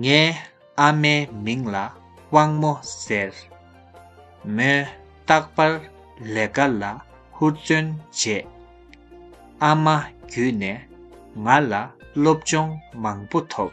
ངའི་ཨ་མའི་མིང་ལ་དབང་མོ་ཟེར། མོས་རྟག་པར་ལས་ཀ་ལ་ཧུར་བརྩོན་བྱས། ཨ་མ་བརྒྱུད་ནས་ང་ལ་སློབ་སྦྱོང་མང་པོ་ཐོབ།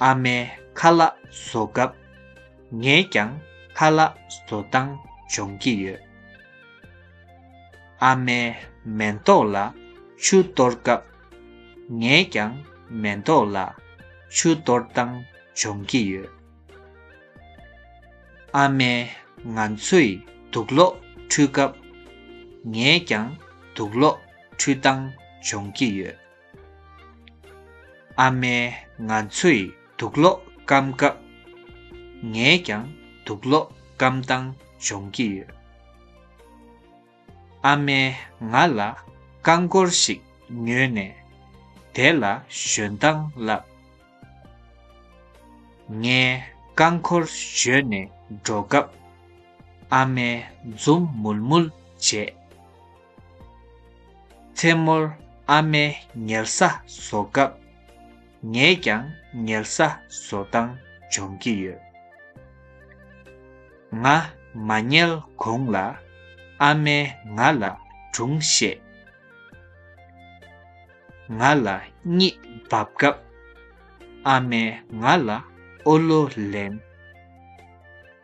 ཨ་མའི་ཁ་ལག་བཟོ་སྐབས་ངས་ཀྱང་ཁ་ལག་བཟོ་སྟངས་སྦྱོང་གི་ཡོད། ཨ་མའི་མེ་ཏོག་ལ་ཆུ་གཏོར་སྐབས་ངས་ཀྱང་མེ་ཏོག་ལ་ཆུ་གཏོར་སྟངས་སྦྱོང་གི་ཡོད། ཨ་མས་ང་ཚོས་དུག་ལོག་འཁྲུད་སྐབས་ངས་ཀྱང་དུག་ལོག་འཁྲུད་སྟངས་སྦྱོང་གི་ཡོད། ཨ་མས་ང་ཚོས་དུག་སློག་སྐམ་སྐབས། ངས་ཀྱང་དུག་སློག་སྐམ་སྟངས་སྦྱོང་གི་ཡོད། ཨ་མས་ང་ལ་རྐང་འཁོར་ཞིག་ཉོས་ནས་དེ་ལ་ཞོན་སྟངས་བསླབས། ངས་རྐང་འཁོར་བཞོན་ནས་འགྲོ་སྐབས། ཨ་མས་འཛུམ་མུལ་མུལ་བྱས། མཚན་མོར་ཨ་མས་ཉལ་ས་བཟོ་སྐབས་ངས་ཀྱང་ཉལ་ས་བཟོ་སྟངས་སྦྱོང་གི་ཡོད། ང་མ་ཉལ་གོང་ལ་ཨ་མས་ང་ལ་སྒྲུང་བཤད། ང་ལ་གཉིད་འབབ་སྐབས་ཨ་མས་ང་ལ་ཨོ་ལོ་ལེན།